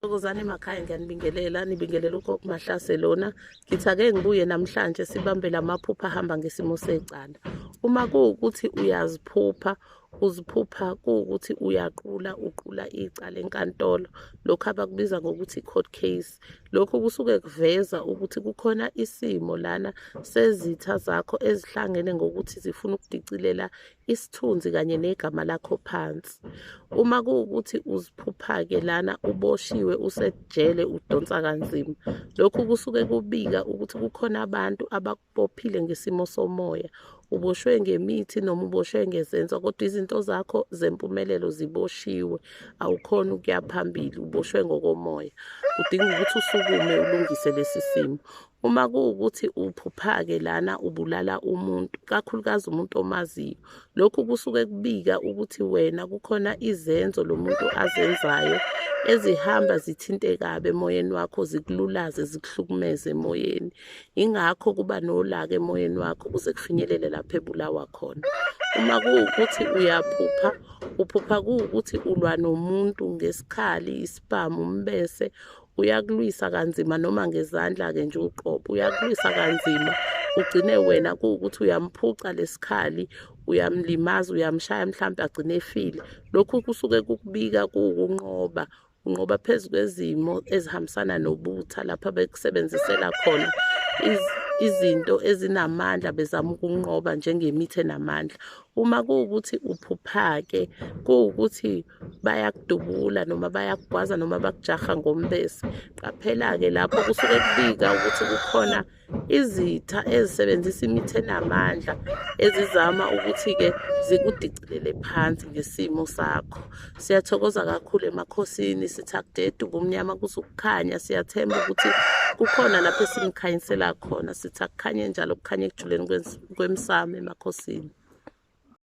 Thokozani emakhaya ngiyanibingelela nibingelela ugogo Mahlase lona ngithi ake ngibuye namhlanje sibambe lamaphupha ahamba ngesimo secala uma kuwukuthi uyaziphupha uziphupha kuwukuthi uyaqula uqula icala enkantolo lokhu abakubiza ngokuthi i-court case lokhu kusuke kuveza ukuthi kukhona isimo lana sezitha zakho ezihlangene ngokuthi zifuna ukudicilela isithunzi kanye negama lakho phansi uma kuwukuthi uziphupha-ke lana uboshiwe usejele udonsa kanzima lokhu kusuke kubika ukuthi kukhona abantu abakubophile ngesimo somoya uboshwe ngemithi noma uboshwe ngezenzo kodwa izinto zakho zempumelelo ziboshiwe awukhona ukuya phambili uboshwe ngokomoya udinga ukuthi usukume ulungise lesi simo uma kuwukuthi uphupha-ke lana ubulala umuntu kakhulukazi umuntu omaziyo lokhu kusuke kubika ukuthi wena kukhona izenzo lo muntu azenzayo ezihamba zithinte kabi emoyeni wakho zikululaze zikuhlukumeze emoyeni ingakho kuba nolaka emoyeni wakho kuze kufinyelele lapho ebulawa khona uma kuwukuthi uyaphupha uphupha kuwukuthi ulwa nomuntu ngesikhali isipamu umbese uyakulwisa kanzima noma ngezandla-ke nje uqobo uyakulwisa kanzima ugcine wena kuwukuthi uyamphuca lesikhali uyamlimaza uyamshaya mhlawumbe agcine efile lokhu kusuke kukubika kuwukunqoba unqoba phezu kwezimo ezihambisana nobutha lapha bekusebenzisela khona izinto ezinamandla bezama ukunqoba njengemithi enamandla Uma kuwukuthi uphuphake kuwukuthi bayakudubula noma bayakugwaza noma bakujaha ngombese qaphela-ke lapho kusuke kubika ukuthi kukhona izitha ezisebenzisa imithi enamandla ezizama ukuthi-ke zikudicilele phansi ngesimo sakho siyathokoza kakhulu emakhosini sithi akudede ubumnyama kuze ukukhanya siyathemba ukuthi kukhona lapho esimkhanyisela khona sithi akukhanye njalo kukhanye ekujuleni kwemsamo emakhosini